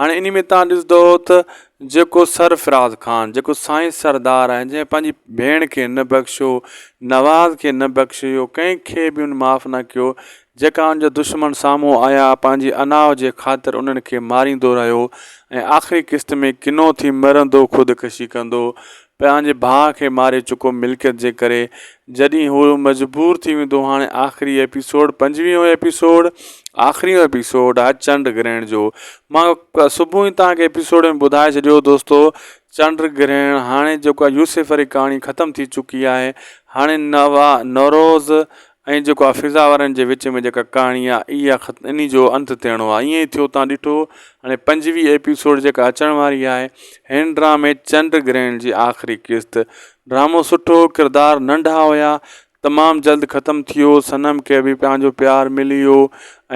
هاڻي انهي ۾ توهان ڏسندؤ ته جيڪو سرفراز خان جيڪو سائين سردار آهي جنهن پنهنجي ڀيڻ کي نه بخشيو نواز کي نه بخشيو ڪنهن کي به ان معاف نه ڪيو جيڪا ان جا دشمن سامهون آيا پنهنجي انا جي خاطر انهن کي ماريندو رهيو ۽ آخري قسط ۾ ڪنو ٿي مرندو خودڪشي ڪندو پنهنجي ڀاء کي ماري چڪو ملڪيت جي ڪري جڏهن هو مجبور ٿي ويندو هاڻي آخري ايپيسوڊ پنجويهون ايپيسوڊ آخريون ايپيسوڊ آهي چنڊ گرهڻ جو مان صبح ئي توهان کي ايپيسوڊ ۾ ٻڌائي ڇڏيو دوستو چنڊ گرهڻ هاڻي جيڪو يوسف واري ڪهاڻي ختم ٿي چڪي آهي هاڻي نوا نوروز ۽ جيڪو آ فضا وارن جي وچ ۾ جيڪا ڪهاڻي آ اي آ خت اني جو انت ٿيڻو آ ائين ئي ٿيو تان ڏٺو هاڻي پنجويهه ايپيسوڊ جيڪا اچڻ واري آهي هن ڊرامي چنڊ گرهڻ جي آخري قسط ڊرامو سٺو ڪردار ننڍا هيا تمام جلد ختم ٿيو صنم کي به پنهنجو پيار ملي ويو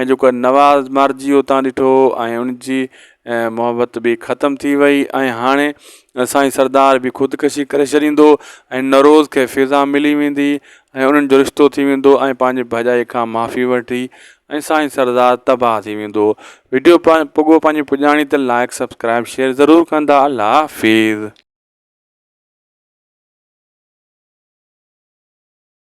۽ جيڪو نواز مارجي ويو تان ڏٺو ۽ ان جي محبت به ختم ٿي وئي ۽ هاڻي سائين سردار به خودڪشي ڪري ڇڏيندو ۽ نوروز کي فضا ملي ويندي ۽ انهن جو رشتو ٿي ويندو ۽ پنهنجي ڀڄائي کان معافي وٺي ۽ سائين سردار تباهه ٿي ويندو ويڊيو پڳو پنهنجي پڄاڻي ته لائيڪ سبسڪرائيب شيئر ضرور ڪندا الله حافظ.